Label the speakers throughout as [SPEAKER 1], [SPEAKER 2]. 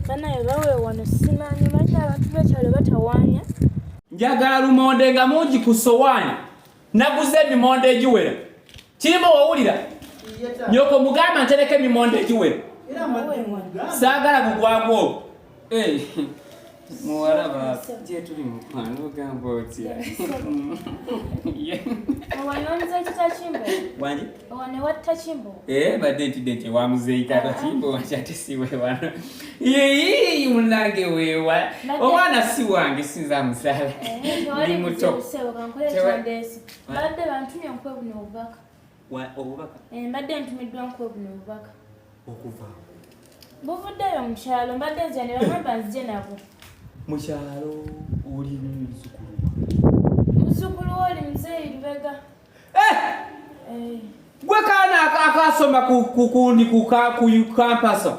[SPEAKER 1] banaye bawe wano simanyi lwaki abantu bekyalo batawaanya njagala
[SPEAKER 2] lumonde nga mungi ku sowaani naguze emimonde egiwera kirima wawulira nyoko mugamba ntereka emimonde egiwera saagala bugwangu obwo muwala baafe gyetuli mukwano ogamba otya eh,
[SPEAKER 1] badde ntidde
[SPEAKER 2] nti ewamuzeeyi kata kimbo wakyate siwewano yeyi munange wewa omwana si wange sinza musala eh, ndi muto
[SPEAKER 1] obubaka
[SPEAKER 2] eh, mbadde ntumiddwa
[SPEAKER 1] nkuwe buno obubaka okuva buvuddeyo mukyalo mbadde nzira ne bagamba nzije nabo mukyalo
[SPEAKER 2] oli muzukulu
[SPEAKER 1] muzukulu oli muzeeyi lubega eh! Eh.
[SPEAKER 2] gwe kaana akasoma kukundi kukampasa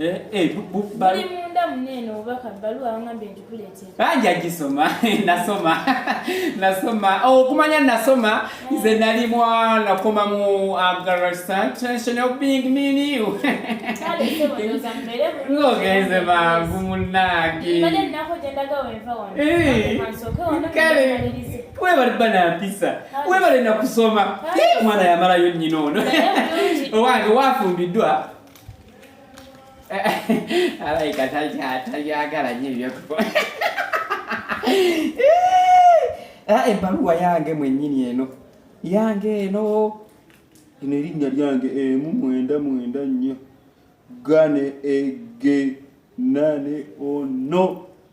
[SPEAKER 1] Eh, eh, bali munda munene obubaka bbaluwa wangambye nti kuleetera banja gisoma
[SPEAKER 2] nasoma nasoma oh, okumanya nasoma eh. nze nali mwana koma mu agarasatration of being miniu ngogenze mangu
[SPEAKER 1] munange webale
[SPEAKER 2] banampisa webale nakusoma mwana yamalayo nyina ono owange wafumbiddwa Alaika takyagala nyo ebyokukola ebbaluwa eh, eh, yange mwenyini eno yange eno eno erinnya lyange emu mwenda mwenda nnyo gane ege nane ono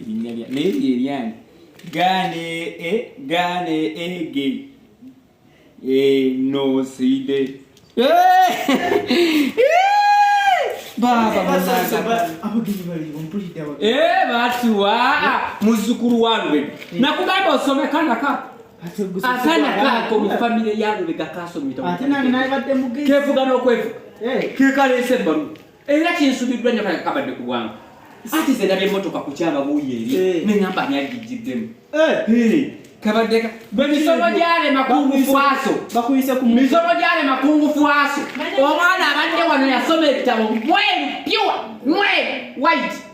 [SPEAKER 2] erinnya lya naye lyeryange gane e gane ege enoside batuwa muzukulu walube nakugamba osome kana kako akana kako mu famire yalube kakasomita
[SPEAKER 3] kevuga nokwevuga
[SPEAKER 2] kekalese bamu Era kinsubiddwa nnyo kale kabadde ku bwangu. Ati ze nabye motoka ku kyaba buuyi eri eh. ne ngamba ani agijjiddemu. Eh. Kabadde ka bwe misomo gyale makungu fwaso. Bakuyise ku misomo
[SPEAKER 3] gyale makungu
[SPEAKER 2] fwaso. Omwana abadde wano yasoma ebitabo bweru pure mweru white.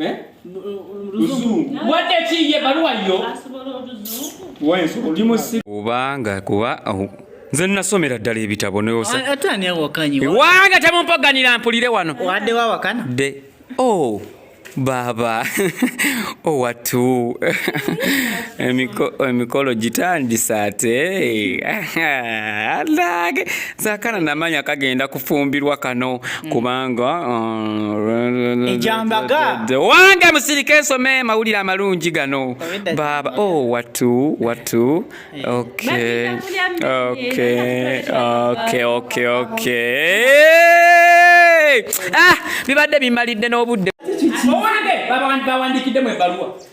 [SPEAKER 2] eh? kubanga kuba nze nasomera ddala ebitabo newanga
[SPEAKER 3] ah, temumpaganira
[SPEAKER 2] mpulire wano de
[SPEAKER 3] oh,
[SPEAKER 2] baaba owatu oh, emikolo gitandisa ate sakana namanya kagenda kufumbirwa kano mm. kubanga uh, ejambaga
[SPEAKER 3] wange musirike
[SPEAKER 2] nsome mawulire amalungi gano baba o oh, watu watu okay okay okay okay okay ah bibadde bimalidde n'obudde bawandikidde mu ebbaluwa